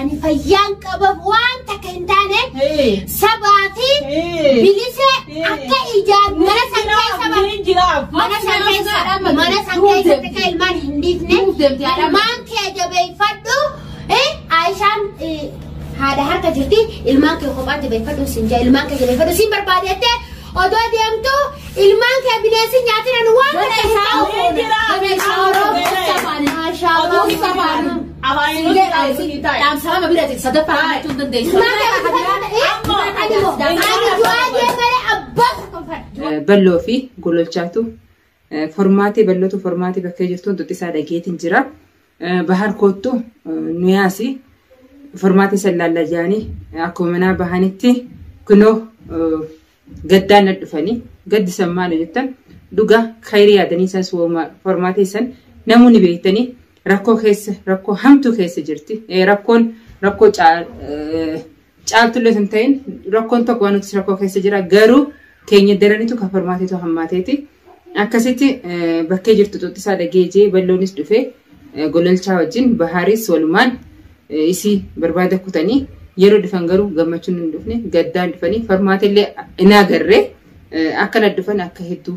Ani fayyaan qabaaf waan takka hin taane Ee. sabaa fi Ee. bilisee Ee. akka ijaan mana san keessa bar- Ni jiraaf. mana san keessa mana san keessatti kan ilmaan hin dhiifne ilmaan kee jabeeffadhu eh, Aishaan eh, haadha harka jirti ilmaan kee kophaatti beeffadhu siin jaa ilmaan kee jabeeffadhu siin barbaade jettee Odoo deemtu ilmaan kee bineensi nyaatina nu waan kana isaa Balloo fi gololchaatu formaatee ballootu formaatee bakkee jirtu hundi isaa dhageetiin jira. Bahar koottu nu yaasi furmaata san laalla jedhanii akkuma manaa bahanitti kunoo gaddaan na dhufanii gaddi san maali jettan dhugaa kayrii yaadanii san furmaata san namuu ni beektanii rakkoo keessa rakkoo hamtuu keessa jirti rakkoon rakkoo Caaltullee sun ta'in rakkoon tokko waan nuti rakkoo keessa jira garuu keenya daranitu kan formaateetu hammaateeti. Akkasitti bakkee jirtu xuxxisaa dhageejee balloonis dhufee gololchaa wajjin bahaaris walumaan isii barbaada kutanii yeroo dhufan garuu gammachuun hin dhufne gaddaan dhufanii formaateellee hin agarre akkana dhufan akka hedduu